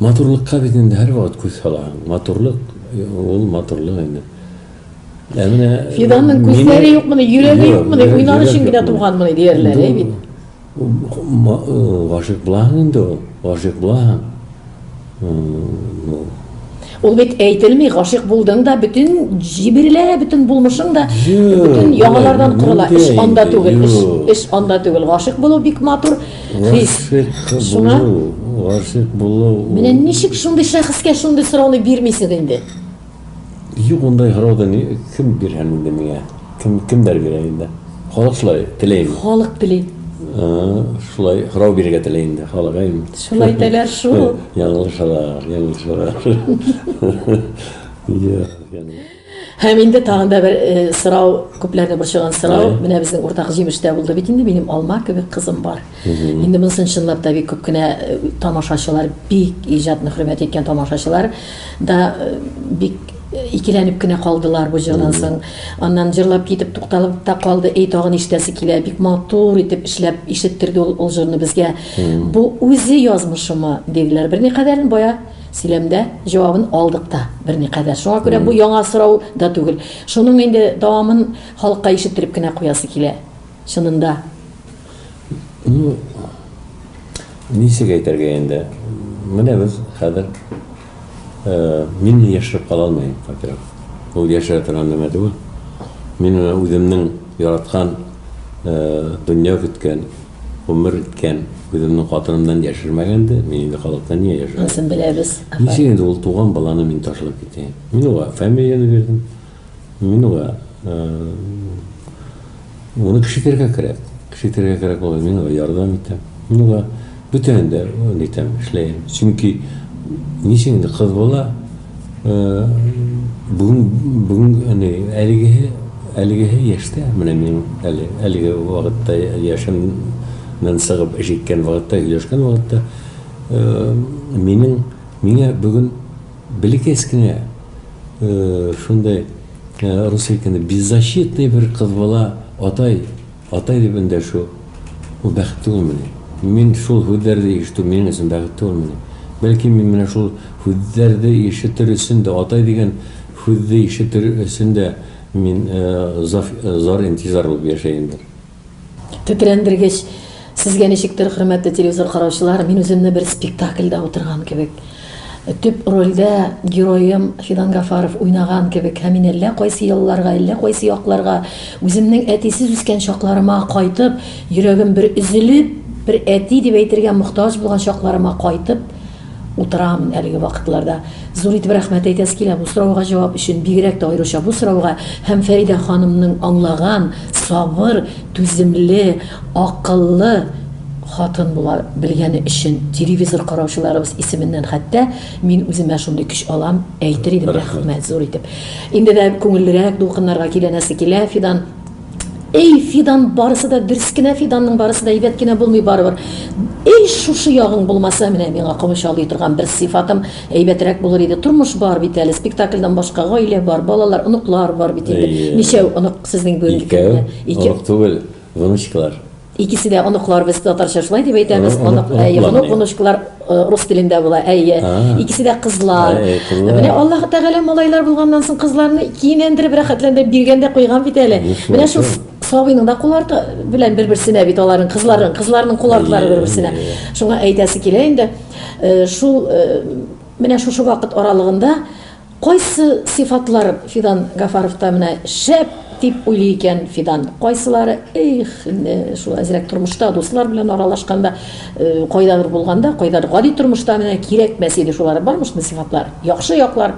Матурлыкка бит инде һәрвакыт күз салаһың. Матурлык, ул матурлык инде. Ә менә Фиданның күзләре юкмыни, йөрәге юкмыни, уйнар өчен генә туганмыни диярләр, әй бит. Гашыйк булаһың инде ул, гашыйк булаһың. Ул бит әйтелми, гашыйк булдың да, бөтен җибирелә, бөтен булмышың да, бөтен яңалардан корыла. Эш анда түгел, эш анда түгел. Гашыйк булу бик матур хис. Шуңа гашыйк булу. Менә ничек шундый шәхескә шундый сорауны бирмисез инде? Юк, ондай сорауны кем бирһен инде миңа? Кем, кемдер бирә инде. Халык шулай теләй инде. Халык теләй. Шулай һорау бирергә теләй инде халык. Ә инде. Шулай теләр шул. Яңылышалар, яңылышалар. Йә, яңы. Һәм инде тагын да бер э, сорау, күпләрне борчыган сорау. Менә безнең уртак җимештә булды бит инде, минем алма кебек кызым бар. Инде монысын чынлап та бик күп кенә э, тамашачылар, бик иҗатны хөрмәт иткән тамашачылар да э, бик э, икеләнеп кенә калдылар бу җырдан соң. Аннан җырлап китеп тукталып та калды. Эй, тагын ишетәсе килә. Бик матур итеп эшләп ишеттерде ул, ул җырны безгә. Бу үзе язмышымы диделәр. Берникадәрен бая сөйләмдә җавабын алдык та берникадәр. Шуңа күрә бу яңа сорау да түгел. Шуның инде дәвамын халыкка ишеттереп кенә куясы килә. Чынында. Ну, ничек әйтергә инде? Менә без хәзер э, мине яшереп кала алмыйм, во-первых. Ул яшерә торган нәмә түгел. Мин менә үземнең яраткан, э, дөнья көткән, гомер иткән үземнең хатынымнан яшермәгән дә, мин инде халыктан нигә яшерәм? Анысын беләбез. Ничек инде ул туган баланы мин ташлап китәм? Мин уңа фамилияне бирдем. Мин уга, э, моны кеше итәргә кирәк. Кеше итәргә кирәк була, мин уга ярдәм итәм. Мин уга бүтәнен дә нитәм, эшләйм. Чөнки ничек инде кыз бала, э, бүген бүген әни әлегеһе әлегеһе яшьтә, менә мин әле әлеге вакытта яшемнән сыгып эш иткән вакытта, һөйләшкән вакытта, э, минем миңа бүген Бәләкәс кенә шундай Русальканы беззащитный бер кыз бала атай, атай дип эндәшү, ул бәхет түгелмени? Мин шул һүзләрде ишетү минем өчен бәхет түгелмени? Бәлки мин менә шул һүзләрде ишетер өчен дә, атай дигән һүзде ишетер өчен дә мин зар-интизар булып яшәендер? Тетрәндергеч. Сезгә ничектер, хөрмәтле телевизор караучылар, мин үземне бер спектакльдә утырган кебек. Төп рольдә героем Фидан Гафаров уйнаган кебек һәм мин әллә кайсы елларга, әллә кайсы якларга, үземнең әтисез үскән чакларыма кайтып, йөрәгем бер өзелеп, бер әти дип әйтергә мохтаҗ булган чакларыма кайтып, утырам әлеге вакытларда. Зур итеп рәхмәт әйтәсе килә бу сорауга җавап өчен, бигрәк тә аеруча бу сорауга һәм Фәридә ханымның аңлаган, сабыр, түземле, акыллы хатын була белгәне өчен, телевизор караучыларыбыз исеменнән хәтта мин үземә шундый көч алам, әйтер идем рәхмәт зур итеп. Инде дә күңеллерәк дулкыннарга киләнәсе килә, Фидан. Эй, Фидан, барысы да дөрес кенә, Фиданның барысы да әйбәт кенә булмый барыбер. Эй, шушы ягың булмаса, менә миңа комыч алый торган бер сыйфатым әйбәтрәк булыр иде. Тормыш бар бит әле, спектакльдан башка гаилә бар, балалар, оныклар бар бит инде. Әйе. Ничәү онык сезнең бүгенге Икәү, көндә? Ике. онык түгел, внучкалар. Икесе дә оныкларыбыз татарча шулай дип әйтәбез. Аны, Онык, әйе, оныклар, онык, ди. онычкылар э, рус телендә була, әйе. А. Икесе дә кызлар. Әй, әй, кызлар. Менә Аллаһ Тәгалә малайлар булганнан соң кызларны кинәндереп, рәхәтләндереп биргән дә куйган бит әле. Нишләп Менә шул соң? сабыйның да кул арты белән бер-берсенә бит аларның кызларын, кызларның кул артлары Әйе, бер-берсенә. әйе. Шуңа әйтәсе килә инде, э, шул э, менә шушы вакыт аралыгында Кайсы сыйфатлар Фидан Гафаровта менә шәп дип уйлый икән Фидан? Кайсылары, их, инде шул әзрәк тормышта, дуслар белән аралашканда, кайдадыр булганда, кайдадыр гади тормышта менә кирәкмәс иде шулары. Бармы шундый сыйфатлар? Яхшы яклар.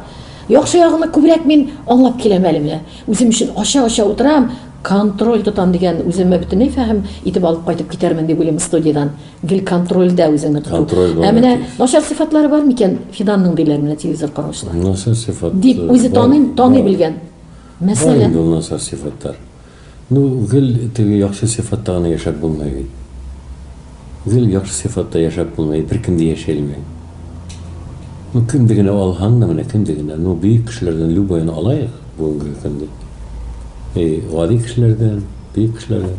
Яхшы ягымны күбрәк мин аңлап киләм әле менә. Үзем өчен ача-ача утырам, контроль тотам дигән үземә бөтенләй фәһем итеп алып кайтып китәрмен дип уйлыйм студиядән. Гел контрольдә үзеңне тоту. Контроль бар, Ә менә әти. начар сыйфатлары бар микән Фиданның диләр менә телевизор караучылар. Насар сыйфат. Дип э, үзе бар, таный, таный бар. белгән. Бар Мәсәлән, инде ул насар сыйфатлар. Ну, гел теге яхшы сыйфатта гына яшәп булмый бит. Гел яхшы сыйфатта яшәп булмый, беркем дә яши алмый. Ну, кемде генә алһаң да менә, кемде генә, ну, бөек кешеләрдән любойны алайык бүгенге көндә. И гади кешеләрдән, бөек кешеләрдән.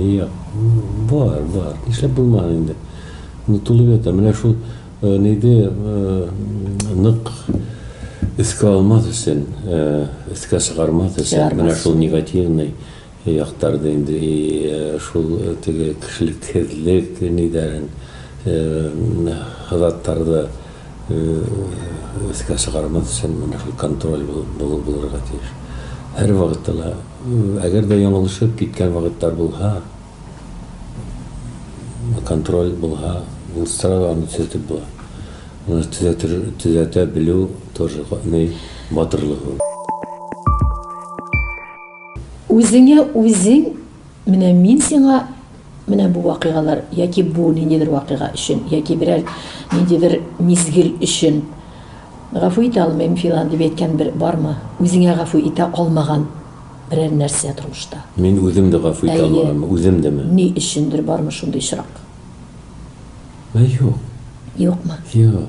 Ия, бар, бар, нишләп булмасын инде. Онытылып ята, менә шул э, нейде э, нык өскә алмас өчен, э, өскә чыгармас өчен, менә шул негативный яктарды инде и шул теге кешелексезлек нидәрен, хазаттарды өскә чыгармас өчен менә шул контроль булырга тиеш. Һәр вакытта Әгәр дә яңылышып киткән вакытлар булһа, контроль булһа, ул сразу аны төзәтеп була. Моны төзәтер, төзәтә белү тоже ни батырлык ул. Үзеңә үзең, менә мин сиңа. Менә бу вакыйгалар яки бу ниндидер вакыйга өчен, яки берәр ниндидер мизгел өчен гафу итә алмыйм филан дип әйткән бер бармы? Үзеңә гафу итә алмаган берәр нәрсә тормышта? Мин үзем дә гафу итә алмаганмы, үзем деме? Ни өчендер бармы шундый очрак? Юк. Юкмы? Юк.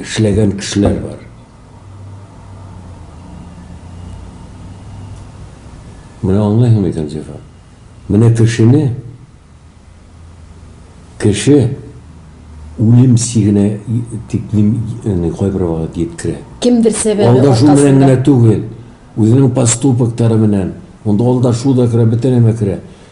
эшләгән кешеләр бар. Менә аңлыйһыңмы икән, Зифа? Менә кешене кеше үлем сигенә дип мин аны кайбер вакыт җиткерә. Кемдер сәбәбе аркасында. Алдашу белән генә түгел, үзенең поступоктары белән. Монда алдашу да керә, бөтен нәмә керә.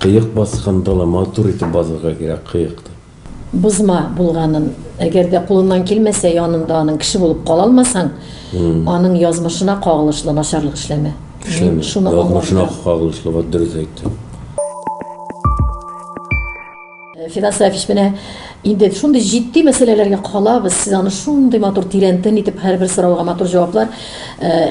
Кыек баскан дала матур итеп базарга кирәк кыекты. Бозма булганын, әгәр дә кулыннан килмәсә, янында аның кеше булып кала алмасаң, аның язмышына кагылышлы начарлык эшләмә. Эшләмә. Язмышына кагылышлы, вот дөрес әйттең. Фидан Сафич, менә инде шундый җитди мәсьәләләргә калабыз. Сез аны шундый матур тирәнтен итеп һәрбер сорауга матур җаваплар,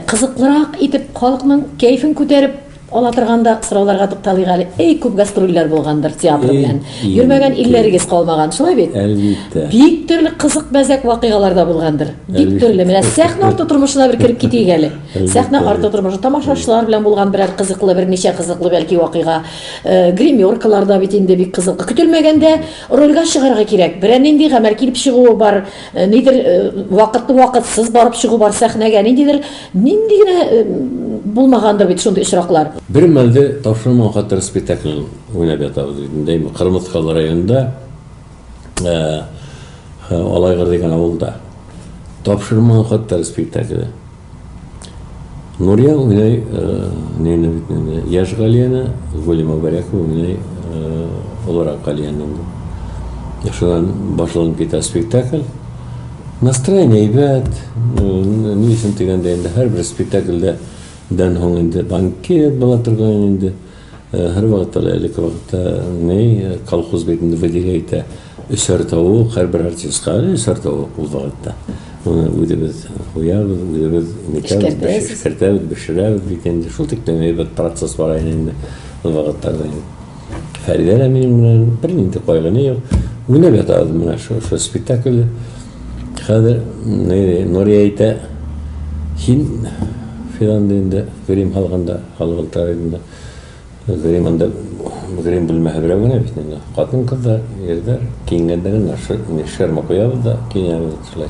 кызыклырак итеп халыкның кәефен күтәреп Ала торганда сорауларга тукталыйк әле. Эй, күп гастрольләр булгандыр театр белән. Йөрмәгән илләрегез калмаган, шулай бит? Әлбиттә. Бик төрле кызык мәзәк вакыйгалар да булгандыр. Бик төрле. Менә сәхнә арты тормышына бер кереп китик әле. Сәхнә арты тормышы тамашачылар белән булган берәр кызыклы, берничә кызыклы бәлки вакыйга. Э, Гримеркалар да бит инде бик кызыклы. Көтелмәгәндә рольгә чыгарга кирәк. Берәр нинди гамәл килеп чыгуы бар, э, нидер э, вакытлы вакытсыз барып чыгу бар сәхнәгә, ниндидер Нинди генә булмагандыр бит шундый очраклар. Бер мәлдә Тапшырма хатын спектаклен уйнап ятабыз бит инде әйме, Кырмыскалы районында, Алайгыр дигән авылда. Тапшырма хатын спектакле. Нурия уйный нене бит инде, яшь Галияне, Гүли Мөбарәкова уйный олырак Галияне инде. Шуннан башланып китә спектакль. Настроение әйбәт, ни өчен дигәндә инде һәрбер спектакльдә дән һуң инде банкет була торган инде. Һәрвакытта да элекке вакытта ни колхоз бит инде Вәдигә әйтә, өчәр тавык һәрбер артистка өчәр тавык ул вакытта. Моны үзебез куябыз, үзебез нитәбез, эшкәртәбез, бешерәбез бит инде. Шул тиклем әйбәт процесс бара иде инде ул вакытларда. Фәридә дә минем белән бер нинди кайгыны юк. Уйнап ятабыз менә шул шул спектакльдә. Хәзер Нурия әйтә, син фиран дигәндә грим алганда, халгылтар идендә. Грим анда грим бүлмәһе берәү генә бит инде. Хатын-кызлар, егетләр киенгәндә генә шерма куябыз да киенәбез шулай.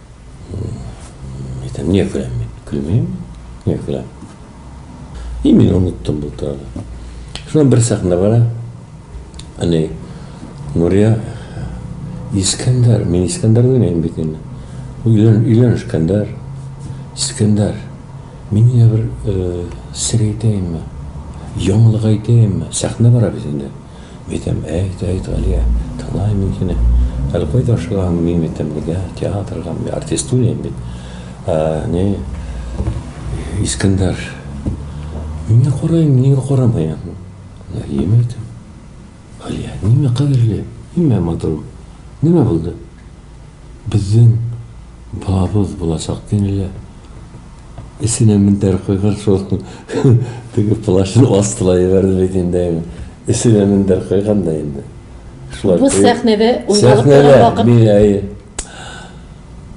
Әйтәм, не көләм мин? Көлмим, не көләм. И мин оныттым бу турыда. Шуннан бер сәхнә бара. Әни Нурия Искәндәр, мин Искәндәр уйнайм бит инде. Өйлән, өйлән Искәндәр. Искәндәр, мин генә бер сер әйтәемме? Яңалык әйтәемме? Сәхнә бара бит инде. Әйтәм, әйт, әйт, Галия, тыңлайм мин сине. Әле кайда ашыгаһың, мин бит тәмлегә, театрга, мин артистуляйм бит. Ә, ни, Искәндәр, миңа карайм, нигә карамыйм? Галием әйтәм. Галия, нимә, кадерлем, нимә, матурым, нимә булды? Безнең балабыз булачак, динеләр. Эченә мендәр куйган шул, теге плащның астына җибәрде бит инде әни. Эченә мендәр куйган да инде. Шулай Бу сәхнәдә уйналып торган вакыт. Сәхнәдә, әйе.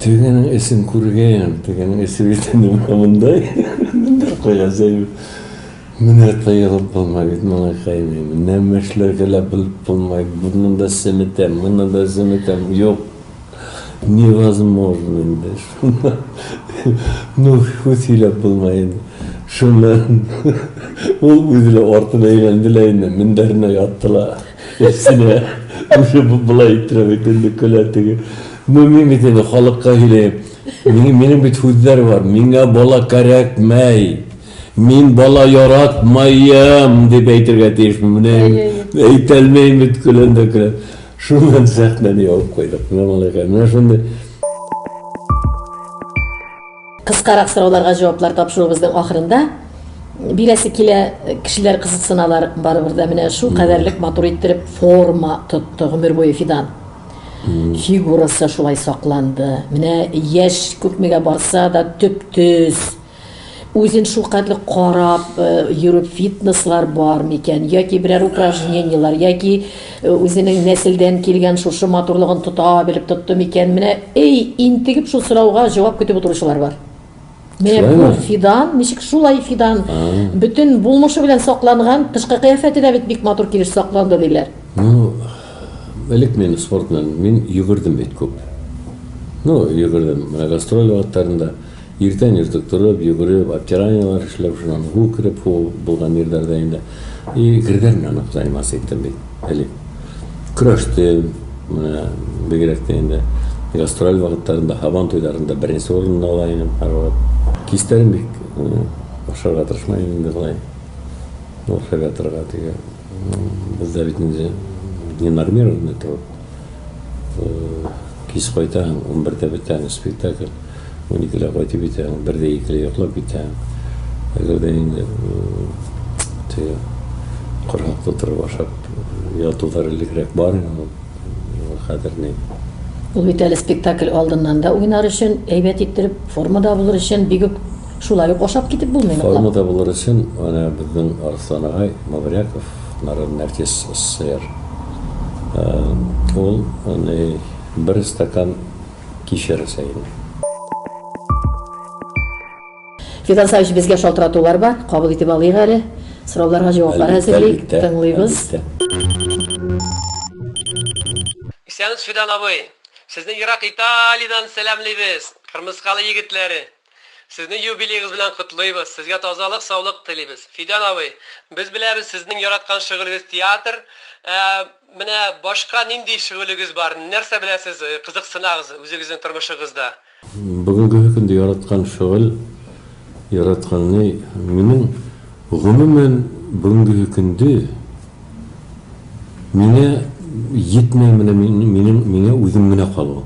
Тегенең эчен күргән, тегенең эче бит инде менә мондай. Мендәр куйган җәй. Менә тыелып булмай бит моны кыйный, нәмә эшләргә лә белеп булмай, моны да семетәм, моны да семетәм, юк, невозможно инде, шуны ну ху сөйләп булмай инде, шуны ул үзе лә артына әйләнде лә инде, мендәренә ятты ла, Әфсинә үзе болай иттереп әйтә инде, көлә теге, ну мин бит инде халыкка сөйләйм, минем бит һүзләр бар, миңа бала кәрәкмәй! Мин бала яратмаем, дип әйтергә тиешмен. Менә әйтәлмәйм бит, көләм дә көләм. Шуннан сәхнәне ябып куйдык. Менә малайга, менә шундый. Кыскарак сорауларга җаваплар тапшыруыбызның ахырында бирәсе килә, кешеләр кызыксыналар барыбер дә. Менә шул кадәрлек матур иттереп форма тотты гомер буе Фидан. Фигурасы шулай сакланды. Менә яшь күпмегә барса да төп-төз. Үзен шулкадәр карап э, йөрү фитнеслар бар микән яки берәр упражнениелар яки э, үзенең нәселдән килгән шушы матурлыгын тота белеп тотты микән? Менә эй, интегеп шул сорауга җавап көтеп утыручылар бар. Менә бу фидан, ничек шулай фидан, бөтен булмышы белән сакланган, тышкы кыяфәте дә бит бик матур килеш сакланды диләр. Ну, элек мин спорт белән мин йөгердем бит күп. Ну, йөгердем. Менә гастроль вакытларында Иртән-иртүк торып, йөгереп, обтиранияләр эшләп, шуннан һу кереп, һу булган йирләрдә инде, и, грдәр белән үк заниматься иттем бит элек. Көрәштем, менә бигрәк тә инде гастроль вакытларында, һабан туйларында беренче урынны ала идем һәрвакыт. Кичләрен бик ашарга тырышмадым инде болай, ашап ятарга теге. Бездә бит инде ненормированный труд. Кис кайтаһың, унбердә бетәме спектакль, уникедә кайтып җитәһең, бердә икедә йоклап китәһең. Әгәр дә инде теге корһаклы торып ашап ятулар элекрәк бар иде ул, хәзер ни? Ул бит әле спектакль алдыннан да уйнар өчен, әйбәт иттереп формада булыр өчен бигүк Шулай ук ашап китеп булмый ныклап. Формада булыр өчен әнә безнең Арслан агай Мавряков, Нарын Нәркис СССР, ул әни бер стакан кичер эчә иде. Фидан Саевич, безгә шалтыратулар бар, кабул итеп алыйк әле. Сорауларга җаваплар әзерлик, тыңлыйбыз. Исәнмесез, Фидан абый! Сезне ерак Италиядән сәламлибез, кырмыскалы егетләре! Сезне юбилеегыз белән котлыйбыз, сезгә тазалык, саулык телибез. Фидан абый, без беләбез, сезнең яраткан шөгылегез театр. Ә менә башка нинди шөгылегез бар? Нәрсә беләсез, кызыксынагыз үзегезнең тормышыгызда? Бүгенге көндә яраткан шөгыль, яраткан ни? Минем, гомумән, бүгенге көндә миңа йитмә, менә минем, миңа үзем генә калу.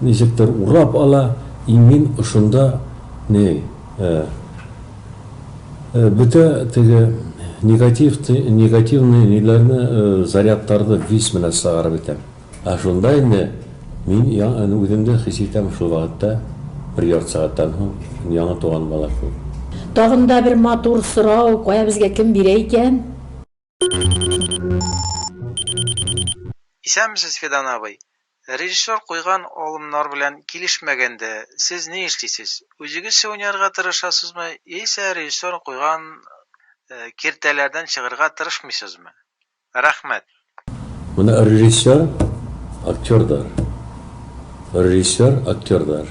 Ничектер урап ала, имин ошында ни э бөтә теге негатив негативный ниләрне э зарядтарды вис менә сыгарып итәм. Ә шунда инде мин я үземдә хис итәм шул вакытта бер ярты сәгатьтән соң яңа туган бала кебек. Тагын да бер матур сорау, кая безгә кем бирә икән? Исәнмесез, Фидан абый. Режиссер куйган алымнар белән килешмәгәндә, сез ни эшлисез? Үзегезчә уйнарга тырышасызмы, яисә режиссер куйган э, киртәләрдән чыгарга тырышмыйсызмы? Рәхмәт. Менә режиссер, актердар. Режиссер, актердар.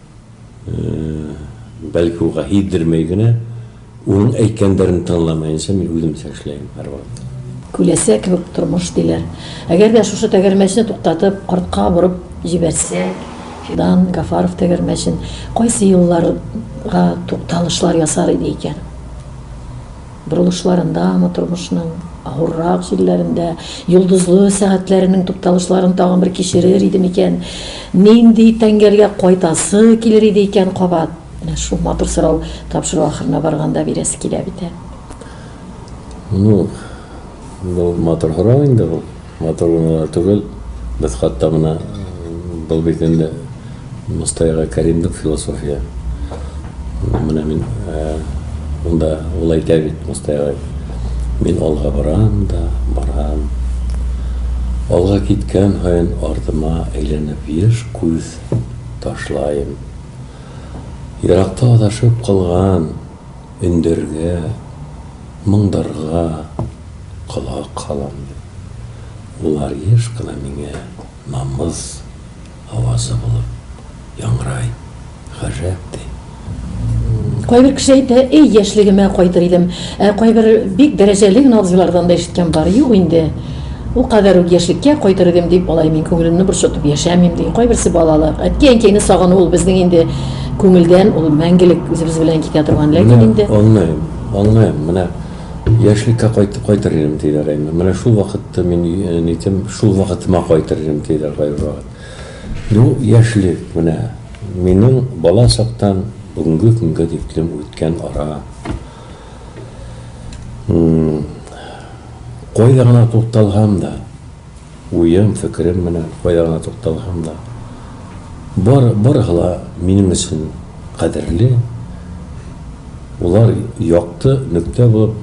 Бәлки ул гәһиддермәй генә, уның әйткәндәрен тыңламаенча мин үземчә эшләйм һәрвакыт. Күләсә кебек тормыш, диләр. Әгәр дә шушы тәгәрмәчне туктатып, артка борып җибәрсәк, Фидан Гафаров тәгәрмәчен, кайсы елларга тукталышлар ясар иде икән? Борылышларындамы, тормышның авыррак җирләрендә, йолдызлы сәгатьләренең тукталышларын тагын бер кичерер иде микән? Нинди тәңгәлгә кайтасы килер иде икән кабат? Менә шул матур сорау тапшыру ахырына барганда бирәсе килә бит, ә? Ну, бу матур сорау инде ул. Матур гына да түгел, без хатта менә был бит инде мостайга кәримлек философия. Менә мин унда ул әйтә бит мостайга, Мин алга барам да барам. Алга киткән һаен артыма әйләнеп еш күз ташлаем. Еракта адашып калган. Өндәргә, моңдарга колак һалам дип, улар еш кына миңа намус авазы булып яңгырай, гаҗәп ди. Кайбер кеше әйтә, Әй, яшьлегемә кайтыр идем. Ә кайбер бик дәрәҗәле генә абзыйлардан да ишеткән бар, юк инде. Ул кадәр үк яшьлеккә кайтыр идем дип, алай мин күңелемне борчытып яшәмим, ди. Кайберсе балалык, әткәй-әнкәйне сагыну ул безнең инде күңелдән, ул мәңгелек үзебез белән китә торган, ләкин инде. Менә аңлыйм, аңлыйм, менә яшьлеккә кайтып кайтыр идем, диләр әйме. Менә шул вакытта мин нитим, шул вакытыма кайтыр идем, диләр кайбер вакыт. Ну, яшьлек, менә минем бала чактан бүгенге көнгә тиклем үткән ара. Кайда гына тукталһам да, уем, фикерем менә кайда гына тукталһам да, бар, барыһы ла минем өчен кадерле, улар якты нөктә булып,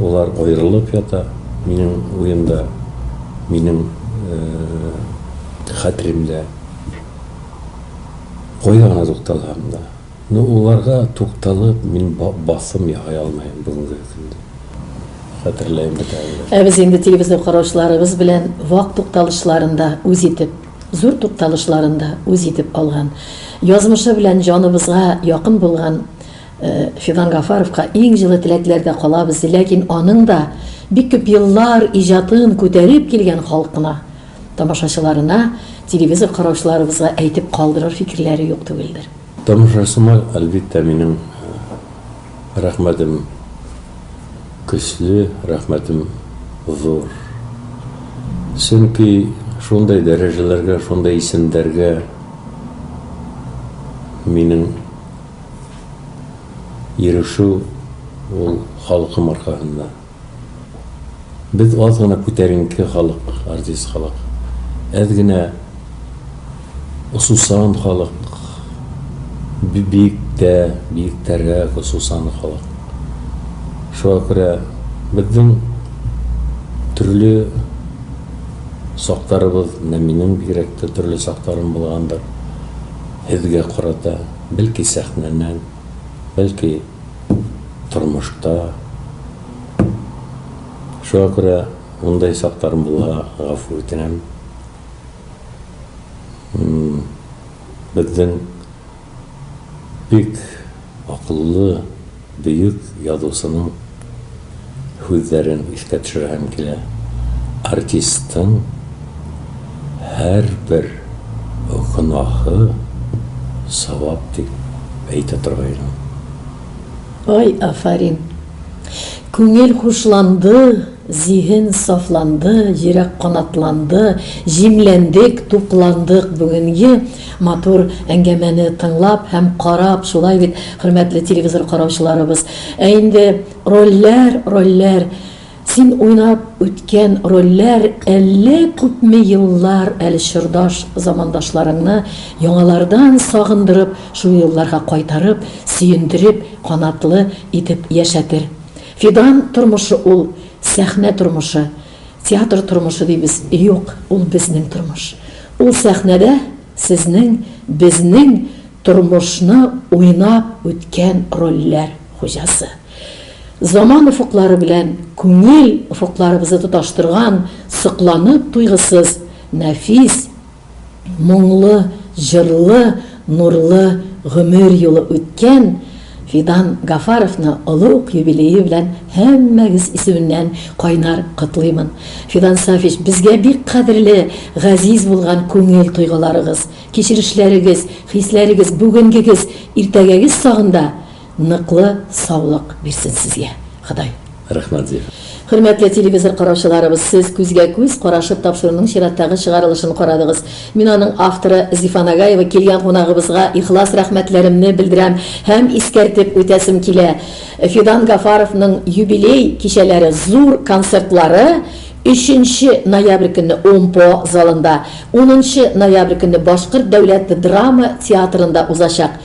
улар аерылып ята минем уемда, минем хәтеремдә. Кайда гына тукталһам да. Ну уларга тукталып мин басым яһай алмаем бүгенге көндә. Хәтерләем бит әле. Ә без инде телевизор караучыларыбыз белән вак тукталышларын да үз итеп, зур тукталышларын да үз итеп алган, язмышы белән җаныбызга якын булган Фидан Гафаровка иң җылы теләкләрдә калабыз, ләкин аның да бик күп еллар иҗатын күтәреп килгән халкына, тамашачыларына, телевизор караучыларыбызга әйтеп калдырыр фикерләре юк түгелдер. Тамашачыма, әлбиттә, минем рәхмәтем көчле, рәхмәтем зур. Чөнки шундый дәрәҗәләргә, шундый исемнәргә минем ирешү ул халкым аркасында. Без аз гына күтәренке халык, артист халык. Әз генә осусан халык, бик тә, бик тәррәк осусан халык. Шуңа күрә безнең төрле сактарыбыз, менә минем бигрәк тә төрле сактарым булгандыр, һезгә карата, бәлки сәхнәнең, бәлки. тормышта. Шуңа күрә мондый чакларым булуга гафу үтенәм. Безнең бик акыллы, бөек язучының. һүзләрен искә төшерәһем килә. Артистың һәрбер гөнаһы савап дип әйтә торган идем. Ай, афәрин! Күңел хушланды, зиһен сафланды, йөрәк канатланды, җимләндек, тукландык бүгенге матур әңгәмәне тыңлап һәм карап, шулай бит, хөрмәтле телевизор караучыларыбыз? Ә инде. Рольләр, рольләр, Син уйнап үткән рольләр Әллә күпме еллар әле чордаш замандашларыңны яңалардан сагындырып, шул елларга кайтарып, сөендереп, канатлы итеп яшәтер. Фидан тормышы ул, сәхнә тормышы. Театр тормышы дибез, юк, ул безнең тормыш. Ул сәхнәдә. Сезнең, безнең тормышны уйнап үткән рольләр хуҗасы. Заман офыклары белән күңел офыкларыбызы тоташтырган сокланып туйгысыз нәфис, моңлы, җырлы, нурлы гомер юлы үткән, Фидан Гафаровны олы ук юбилее белән һәммәгез исеменнән кайнар котлыймын. Фидан Сафич, безгә бик кадерле, газиз булган күңел тойгыларыгыз, кичерешләрегез, хисләрегез, бүгенгегез, иртәгәгез сагында ныклы саулык бирсен сезгә Ходай. Рәхмәт зур. Хөрмәтле телевизор караучыларыбыз, сез күзгә күз карашып тапшыруның чираттагы чыгарылышын карадыгыз. Мин аның авторы Зифа Нагаева килгән кунагыбызга ихлас рәхмәтләремне белдерәм һәм искәртеп үтәсем килә, Фидан Гафаровның юбилей кичәләре, зур концертлары өченче ноябрь көнне ОМПО залында, унынчы ноябрь көнне Башкорт дәүләт драма театрында узачак.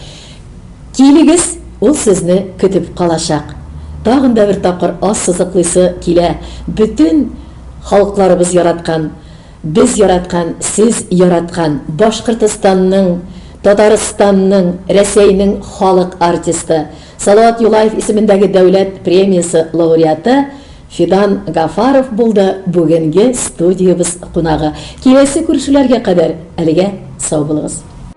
Килегез, ул сезне көтеп калачак. Тагын да бер тапкыр ассызыклыйсы килә, бөтен халыкларыбыз яраткан, без яраткан, сез яраткан Башкортостанның, Татарстанның, Рәсәйнең халык артисты, Салават Юлаев исемендәге дәүләт премиясе лауреаты Фидан Гафаров булды бүгенге студиябез кунагы. Киләсе күрешүләргә кадәр әлегә сау булыгыз.